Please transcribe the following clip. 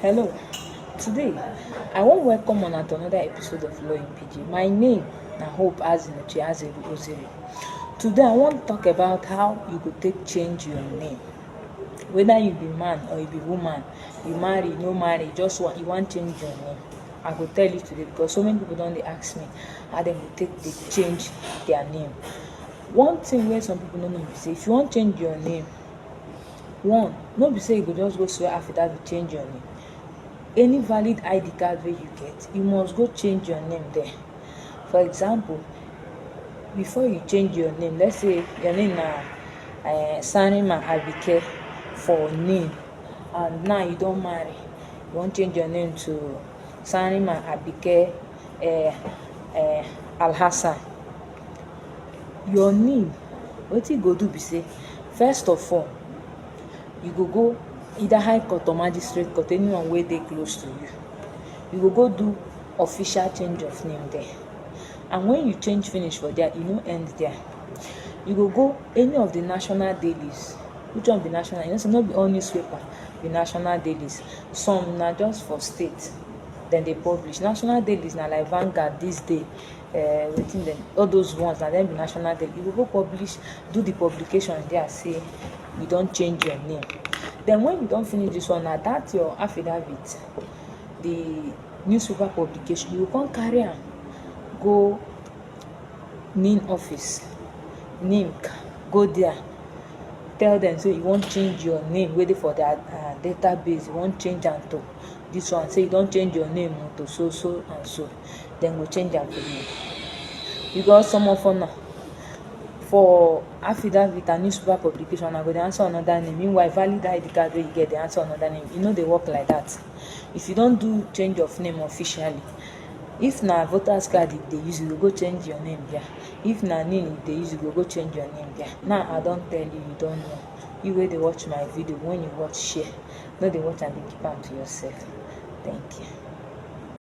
Hello, today I wan welcome una to another episode of Law in PG. My name na Hope Azinuche Azeru Ozeri. Today I wan talk about how you go take change your name. Whether you be man or you be woman, you marry, no marry, just want, you wan change your name. I go tell you today because so many people don dey ask me how dem go take dey change their name. One thing wey some people no know be say if you wan change your name, One, no be say you go just go swear affidavit change your name. Any valid ID card wey you get, you must go change your name there. For example, before you change your name, let's say your name na uh, Sanima Abike for name, and now you don marry, you wan change your name to Sanima Abike uh, uh, Alhassan. your knee wetin you go do be say first of all you go go either high court or magistrate court anyone wey dey close to you you go go do official change of name there and when you change finish for there e no end there you go go any of the national dailies which one be national you know say no be all newspaper be national dailies some na just for state dem dey publish national dailies na like Vanguard this day uh, wetin dem all those ones na dem be national dem you go go publish do the publication there say you don change your name then when you don finish this one na that your affidavit the newspaper publication you go come carry am go nin office nimc go there tell them say you wan change your name wey dey for their uh, database you wan change am to this one say you don change your name to so so and so dem go change am for me because some of una for affidavit and newspaper publication una go dey answer another name meanwhile valid id card wey you get dey answer another name e no dey work like that if you don do change of name officially if na voters card you dey use you go go change your name there if na name you dey use you go go change your name there now i don tell you you don know you wey dey watch my video when you watch share no dey watch am dey keep am to yourself thank you